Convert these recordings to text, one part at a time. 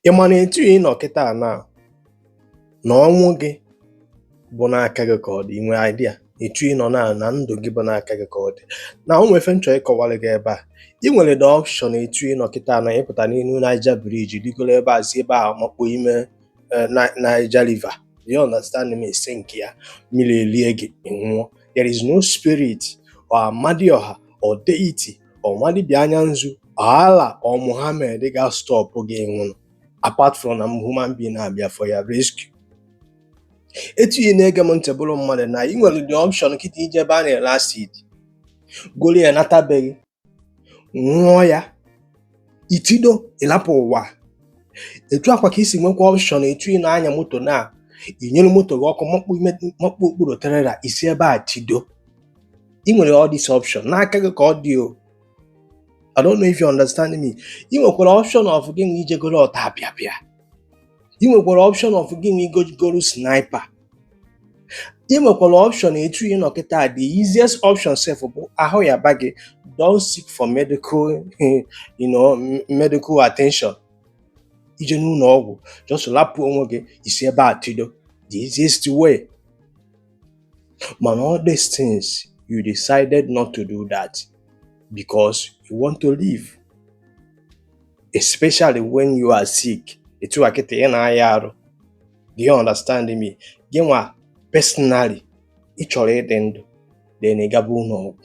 Ị ma na etu ị nọ kịta na na ọnwụ gị bụ n'aka gị ka ọ dị inwe idea etu ị nọ na na ndụ gị bụ n'aka gị ka ọ dị na o nwe ife m chọ ịkọwara gị ebe a ị nwere the option etu ị nọ kịta na ịpụta n'elu Niger Bridge rigoro ebe a si ebe a makpu ime eh, Ni- Niger River you understand me ese nke ya mmiri elie gị ị nwụọ there is no spirit or amadioha or deity or nwa dibịa anya nzu Allah or Muhammad ga-astop gị nwụrụ apart from na human being na-abịa for your rescue etu ị na-ege m ntị bụrụ mmadụ na ị nwere the option kịta ije ebe a na-ere acid goro ya nata be gị ṅụọ ya i tido ịlapụ ụwa etu a kwa ka i si nwekwa option etu ị na-anya moto na inyere moto gị ọkụ makpu ime- makpu okpuru trailer i si ebe a tido ị nwere all this option n'aka gị ka ọ dị o I don't know if you understand me ị nwekwara option of gị nwa ije goro ọtapịapịa ị nwekwara option of gị nwa ịga goro sniper ị nwekwara option etu ị nọ kịta the easiest option sef bụ ahụ yaba gị don't seek for medical you know, medical attention ije n'ụlọ ọgwụ just lapụ onwe gị i si ebe a tido the easiest way Mana all these things, you decided not to do that because you want to live. Especially when you are sick. Etu a kịta ị na-aya arụ. Do you understand me? Gị nwa personally, ị chọrọ ịdị ndụ, then ị gaba ụlọ ọgwụ.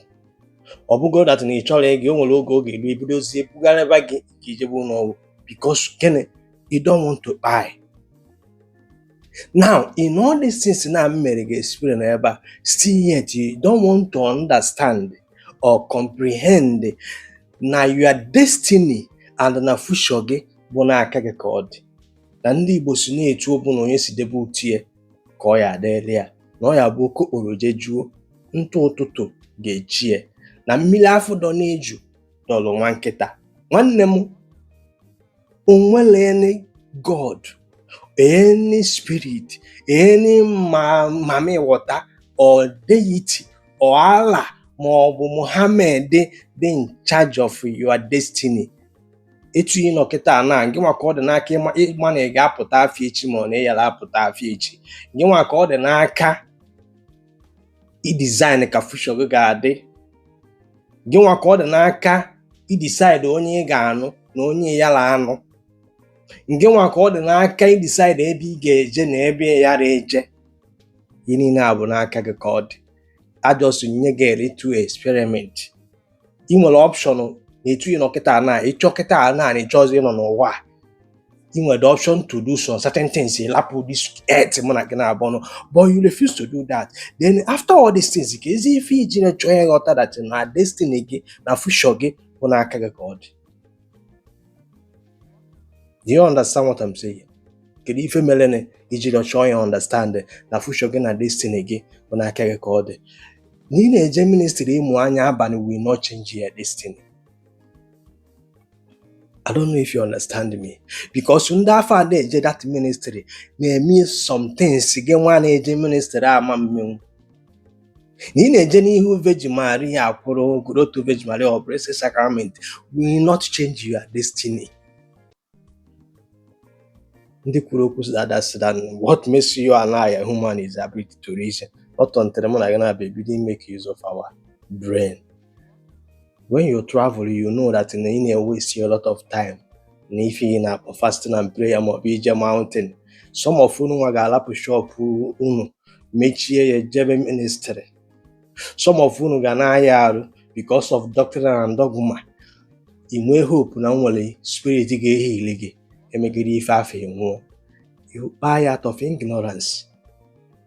Ọ bụgo that na ị chọrọ ịga, o nwere oge ọ ga-eru e bidozie bugharịba gị ka i jebe ụlọ ọgwụ because gịnị? You don't want to kpai. Now, in all these things na m mere gị explain ebe a, still yet you don't want to understand or comprehend na your destiny and na future gị bụ n'aka gị ka ọ dị na ndị Igbo sị na etu ọbụla onye si debe ute ya ka ọ ya-adịrị ya na ọ ya-abụ oke okporo jejuo ntụ ụtụtụ ga-eche ya na mmiri afụ dọ n'eju dọlụ nwa nkịta nwanne m o nwere any god any spirit any ma mami water or deity or Allah ma ọ bụ Muhammad dị dị in charge of your destiny etu ị nọ kịta na gị nwa ka ọ dị n'aka ịma ịma na ị ga-apụta afọ echi ma ọ na ị yara apụta afọ echi gị nwa ka ọ dị n'aka i-design ka future gị ga-adị gị nwa ka ọ dị n'aka i-decide onye ị ga-anụ na onye ị yara anụ gị nwa ka ọ dị n'aka i-decide ebe ị ga-eje na ebe ị yara eje ihe niile a bụ n'aka gị ka ọ dị I just nye gị a little experiment ị nwere option na etu ị nọ kịta na ịchọ kịta na ịchọzi ịnọ n'ụwa a ị nwere the option to do some certain things ịlapụ this earth mụ na gị naabọ nọ but you refuse to do that then after all these things kezi ife iji na-achọ ịghọta that na destiny gị na future gị bụ n'aka gị ka ọ dị Do you understand what I'm saying? kedu ife mere na iji chọọ ya understand na future gị na destiny gị bụ n'aka gị ka ọ dị na ị na-eje ministry ịmụ anya abalị will not change your destiny I don't know if you understand me because ndị afọ ada eje that ministry na-eme some things gị nwa na-eje ministry ama emenwu na ị na-eje n'ihu Virgin Maria kwụrụ grotto Virgin Maria or Blessed Sacrament will not change your destiny ndị kwuru okwu sị that sị that what makes you and I a human is ability to reason not until mụ na gị naabọ ebido make use of our brain when you travel you know that na ị na-waste a lot of time na ife ị na-akpọ fasting and prayer ma ọ bụ ije mountain some of unu nwa ga-alapụ shop unu mechie ya jebe ministry some of unu ga na-aya arụ because of doctrine and dogma ị nwee hope na e nwere spirit ga-eheal gị emegide ife afọ nwụọ you kpai out of ignorance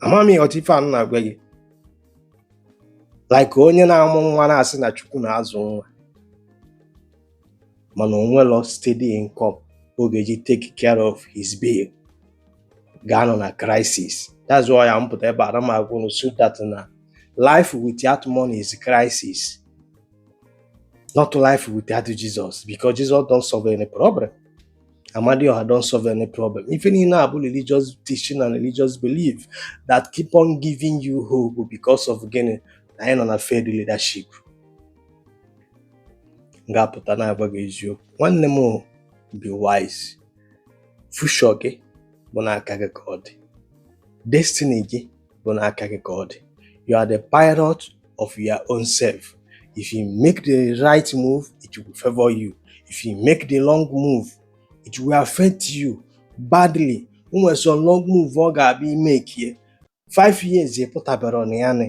ama m ị ghọta ife a m na-agwa gị like onye na-amụ nwa na-asị na chukwu na-azụ nwa mana o nwelọ steady income ọ ga-eji take care of his bill ga-anọ na crisis that's why m pụta ebe a na m agwa unu so that na life without money is crisis not life without Jesus because Jesus don't solve any problem Amadioha don't solve any problem. Ife niine a bụ religious teaching and religious belief that keep on giving you hope because of gịnị na anyị nọ na failed leadership. M ga-apụta na-agwa gị eziokwu. Nwanne m o, be wise. Future gị bụ n'aka gị ka ọ dị. Destiny gị bụ n'aka gị ka ọ dị you are the pilot of your own self if you make the right move it will favor you if you make the wrong move it will affect you badly nwere some wrong move ọ ga-abụ ị make ya 5 years ị pụtabarọ na ya na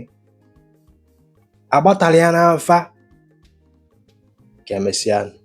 agbatara ya n'afa ka emesịa